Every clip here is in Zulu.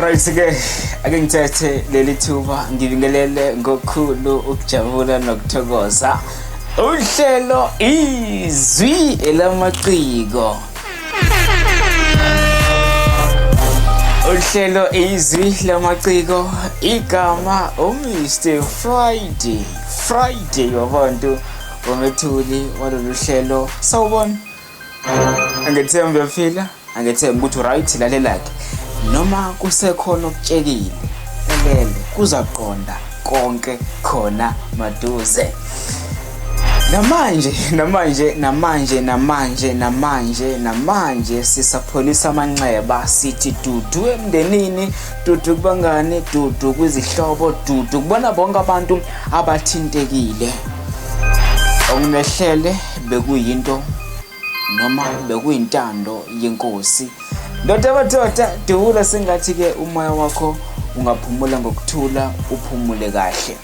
right ke ake ngithethe leli thuba ngibingelele ngokhulu ukujabula nokuthokoza uhlelo izwi elamaciko uhlelo izwi lamaciko igama umr friday friday wabantu wamethuli walolu hlelo sawubona angethembi uyaphila angethembi ukuthi uright lalelakhe noma kusekhona okutshekile elele kuza kuqonda konke khona maduze namanje namanje namanje namanje namanje namanje sisapholisa amanxeba sithi dudu emndenini dudu kubangani dudu kwizihlobo dudu kubona bonke abantu abathintekile okunehlele bekuyinto noma bekuyintando yenkosi ndoda madoda dewula sengathi-ke umoya wakho ungaphumula ngokuthula uphumule kahle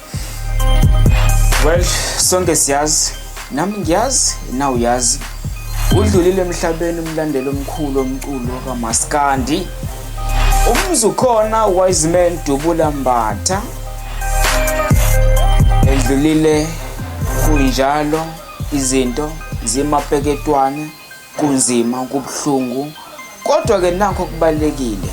well sonke siyazi nami ngiyazi na uyazi udlulile emhlabeni umlandeli omkhulu omculo kamaskandi umzi ukhona wise man dubula mbatha edlulile kunjalo izinto zimapeketwane kunzima kubuhlungu kodwa-ke nakho kubalulekile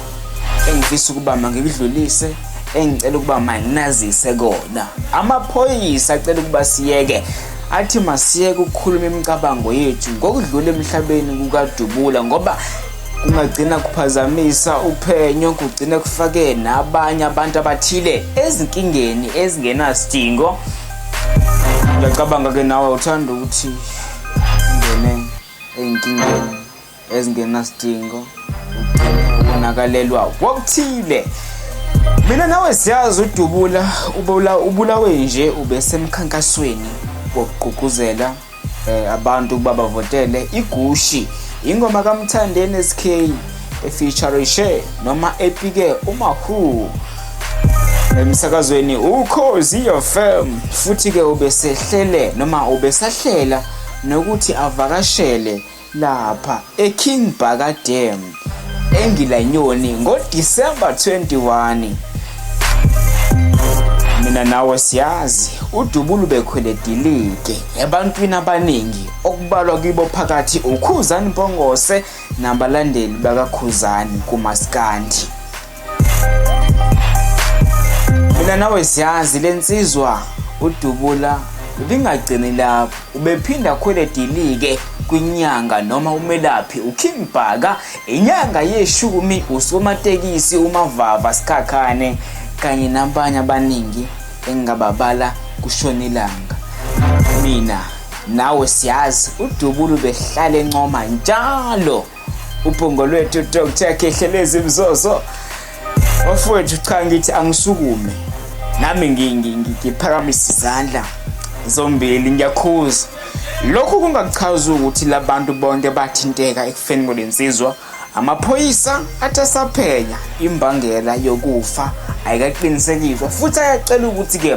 engifisa ukuba mangikudlulise engicela ukuba manginazise kona amaphoyisa acela ukuba siyeke athi masiyeke ukukhuluma imicabango yethu ngokudlula emhlabeni kukadubula ngoba kungagcina kuphazamisa uphenyo kugcine kufake nabanye abantu abathile ezinkingeni ezingenasidingo ngiyacabanga ke nawe uthanda ukuthi ungene ey'nkingeni ezingenasidingo ugcine ubonakalelwa kokuthile mina nawe siyazi udubula ubulawe nje ubesemkhankasweni wokugqugquzela eh, abantu ukuba bavotele igushi ingoma kamthandeni sk efeaturishe noma epike umahu emsakazweni ukhozi fm futhi-ke ubesehlele noma ubesahlela nokuthi avakashele lapha eKing Bhaka Dam eNgilanyoni ngoDisemba 21. Mina nawe siyazi uDubula ubekhwele dilike ebantwini abaningi okubalwa kibo phakathi uKhuzani Mpongose nabalandeli bakaKhuzani kumaskandi. mina nawe siyazi le nsizwa udubula lingagcini lapho ubephinda akhwele dilike kwinyanga noma umelaphi uking bhaka inyanga yeshumi usomatekisi umavava sikhakhane kanye nabanye abaningi engingababala kushona ilanga mina nawe siyazi udubulu behlale ncoma njalo ubhongo lwethu dr khehlelezi mzozo bafowethu cha ngithi angisukume nami ngiphakamisa izandla zombili ngiyakhuza lokhu kungachazi ukuthi labantu bonke bathinteka ekufeni kwalensizwa amaphoyisa athi asaphenya imbangela yokufa ayikaqinisekiswa futhi ayacela ukuthi-ke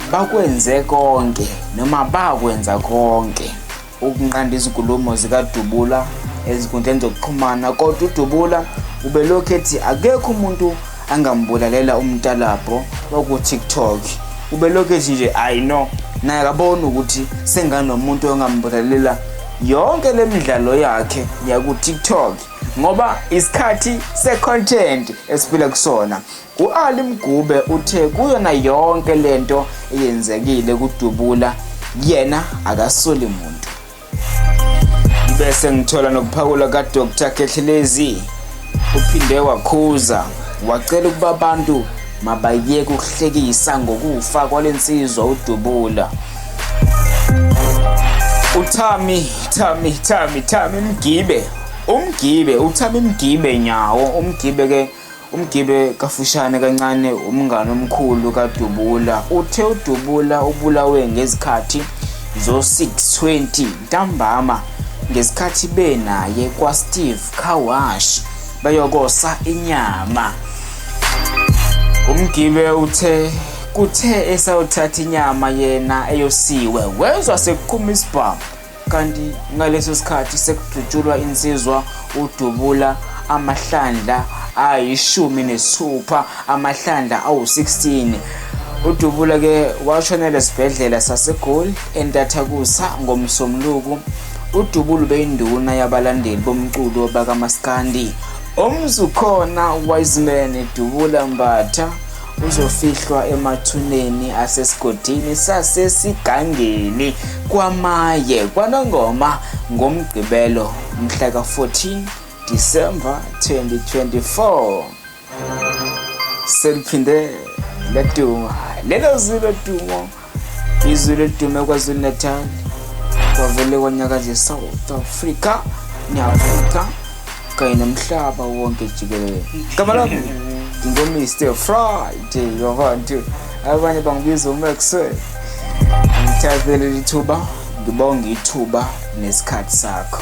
Bakwenze konke noma bakwenza konke ukunqanda izinkulumo zikaDubula ezinkundleni zokuxhumana kodwa uDubula ubelokhu ethi akekho umuntu angambulalela umtalabho waku-tiktok ubelokhu ethi nje ayi no naye akaboni ukuthi senganomuntu ongambulalela yonke le midlalo yakhe yaku-tiktok ngoba isikhathi se-content esiphila kusona U-Ali Mgube uthe kuyona yonke lento eyenzekile kudubula yena akasoli muntu. Bese ngithola nokuphakula kaDr Khehlelezi uphinde wakhuza wacela ukuba abantu mabayeke ukuhlekisa ngokufa kwalensizwa udubula. Uthami Thami Thami Thami Mgibe umgibe uthami mgibe nyawo umgibe ke Umgibe kafushane kancane umngane omkhulu kaDubula uthe uDubula ubulawe ngezikhathi zo-620 ntambama ngesikhathi benaye kwaSteve Kawash beyokosa inyama. Umgibe uthe kuthe esayothatha inyama yena eyosiwe wezwa sekuqhuma isibhamu kanti ngaleso sikhathi sekudutshulwa insizwa udubula amahlandla ayishumi nesithupha amahlandla awu-16 udubula ke washonela esibhedlela sasegoli entathakusa ngomsomluku udubula ubeyinduna yabalandeli bomculo bakamaskandi omzukhona wiseman dubula mbatha uzofihlwa emathuneni asesigodini sasesigangeni kwamaye kwanongoma ngomgqibelo mhla ka-14 disemba 2024 seliphinde leduma lelo zilo dumo izulu elidume kwazulu-natal kwavele kwanyakaza e-south africa ne-afrika kanye nomhlaba wonke jikelele gama lami ngingomr friday wabantu abanye bangibiza umaxwell ngithathe leli thuba ngibonge ithuba nesikhathi sakho